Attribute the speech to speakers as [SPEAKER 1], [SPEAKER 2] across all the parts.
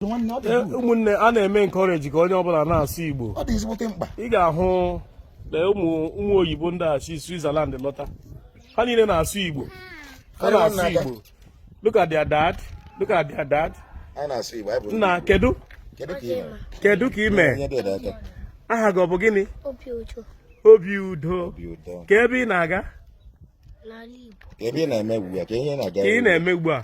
[SPEAKER 1] ụmụnne a na-eme encourage ka onye ọbụla na-asụ Igbo ị ga-ahụ na ụmụ ụmụ oyibo ndị a si Switzerland lọta ha niile na-asụ Igbo ha na-asụ Igbo look at their dad look at their dad nna kedu kedu ka i me aha gị ọ bụ gịnị obi udo ka ebe ị na-aga
[SPEAKER 2] ka ị na-eme ugbu a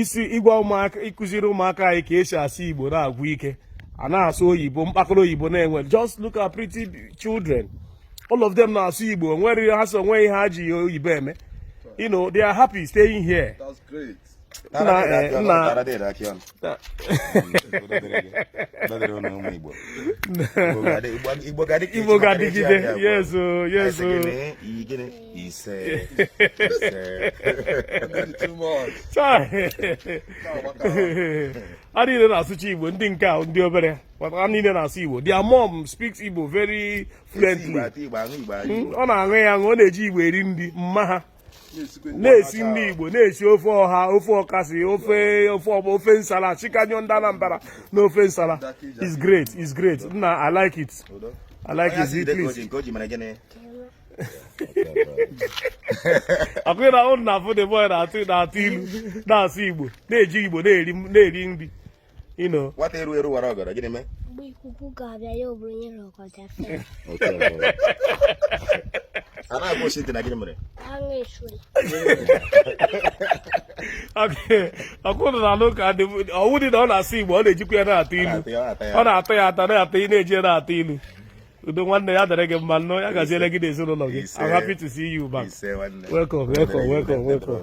[SPEAKER 1] isi ịgwa ụmụaka ịkụziri ụmụaka anyị ka e si asụ igbo na-agwụ ike a na-asụ oyibo mkpakọrọ oyibo na-enwe just look at pretty children all of them na-asụ igbo nwere ha so o nwe ihe ha ji oyibo eme you know they are happy staying
[SPEAKER 2] here. That's
[SPEAKER 1] great. na igbo ga-adịgide yes o yes o isee isee too much. so ndị a niile na-asụcha Igbo ndị nke a ndị obere a niile na-asụ Igbo their mom speaks Igbo very fluently hmm? ọ na-aṅụ ya aṅụ ọ na-eji Igbo eri nri mma ha na-esi nri Igbo na-esi ofe ọha ofe ọkazị ofe ofe ọgba ofe nsala chikanyụ ndị Anambra na ofe nsala it's great it's great nna I like it I like it please ọ kwa ụnụ na-afụ the boy na-atụ na-atụ ilu na-asụ igbo na-eji igbo na-eri na-eri nri you know nwata
[SPEAKER 2] eru eru wara ọgọdọ gịnị mee mgbe ikuku ga-abịa
[SPEAKER 3] ya o buru onye na ọgọdọ fee
[SPEAKER 2] a na-agwa osi ntị na gịnị mere agha
[SPEAKER 1] esuri ọ kwa ụnụ na-anụ ka dị ọwụ dị na ọ na-asụ igbo ọ na-ejikwa ya na-atụ ilu ọ na-ata ya ata na-atụ na-eji ya na-atụ ilu udo nwanne ya dịrị gị mma nnọọ ya gaziele gị n'ezinụlọ gị I'm happy to see you back welcome welcome welcome welcome